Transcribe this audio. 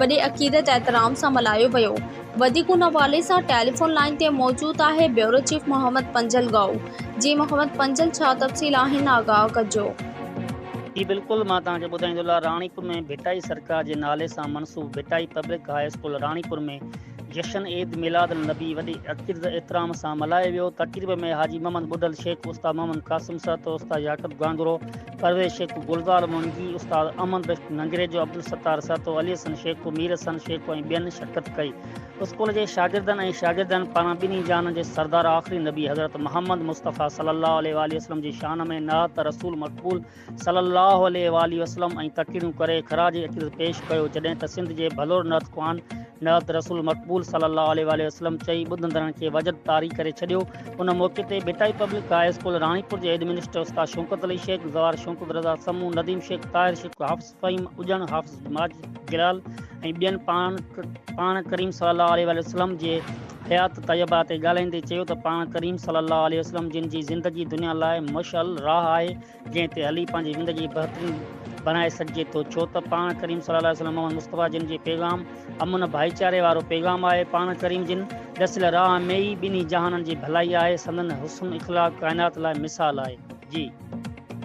وڏي عقيدت احترام سان ملهايو ويو وڌيڪ ان حوالي سان ٽيليفون لائين تي موجود آهي بيورو چيف محمد پنجل ڳائو جي محمد پنجل ڇا تفصيل آهن آگاهه ڪجو. جي بلڪل مان توهان کي ٻڌائيندو لا راڻيپور ۾ ڀٽائي سرڪار جي نالي سان منسوب Bhitai public high school Ranipur ۾ جشن عيد ميلاد النبي وڏي عقيدت احترام سان ملهايو ويو تقريب ۾ حاجي محمد ٻڍل شيخ استاد محمد قاسم سهتو استاد يعقوب گانگرو پرويز شيخو، گلزار منگي، استاد امن بخش ننگريجو، عبدالستار سهتو، علي حسن شيخو، مير حسن شيخو ۽ ٻين شرڪت ڪئي. اسڪول جي شاگردن ۽ شاگردياڻين پاران ٻنهي جهانن جي سردار آخري نبي حضرت محمد مصطفيٰ صلّي اللّٰه عليه واٰله وسلّم جي شان ۾ نعت رسول مقبول صلّي اللّٰه عليه واٰله وسلّم ۽ تقريرون ڪري خراج عقيدت پيش ڪيو جڏهن ته سنڌ جي ڀلور نعت خوان نعت رسول مقبول صلّي اللّٰه عليه واٰله وسلّم چئي ٻڌندڙن کي وجد طاري ڪري ڇڏيو. ان موقعي تي Bhitai public high school Ranipur جي هيڊمنسٽر استاد شوڪت علي شيخ، زوار شوڪت رضا سمون، نديم شيخ، طاهر شيخ، حافظ فهيم اڄڻ، حافظ ماجد جلال ۽ ٻين پاڻ پاڻ ڪريم صلي الله عليه واٰله وسلم جي حيات طيبه تي ڳالهائيندي چيو ته پاڻ ڪريم صلي الله عليه وسلم جن جي زندگي دنيا لاء مشعل راهه آهي جنهن تي هلي پنهنجي زندگي بهترين بڻائي سگهجي ٿو ڇو ته پاڻ ڪريم صلي الله عليه وسلم محمد مصطفيٰ جن جي پيغام امن ڀائيچاري وارو پيغام آهي پاڻ ڪريم جن ڏسيل راهه ۾ ئي ٻنهي جهانن جي ڀلائي آهي سندن حسن اخلاق ڪائنات لاء مثال آهي جي